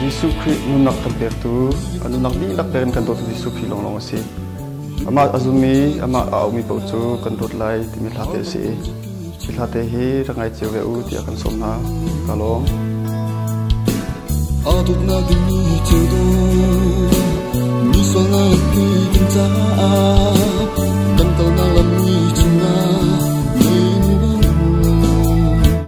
Jesuh Khrih nunnak kan pektu kan nunnak dihlak tein kan dawtu Jesuh Khrih lawnglawng a si. Amah a zum i amah a aumi paoh cu kan dawt lai timi hlate a si i hi hlate hi rak ngai cio ve u tiah kan sawm hna. Ka lawm. Aa tuknak ding cu do mi sualnak hi kan caah kan kalnak lam ni chungah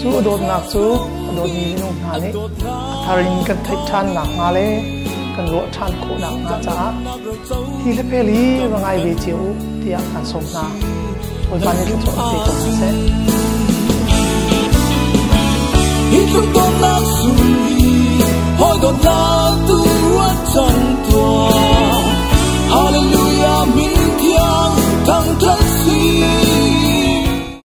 Cu dawtnak cu a dawtmi minung hna nih thar in kan theih ṭhan nakhnga le kan ruah ṭhan khawh nakhnga caah thi le phel hi va ngai ve cio u tiah kan sawm hna. Bawipa nih thluachuah pe ko hna seh. Hallelujah, min thiang, thang thang si.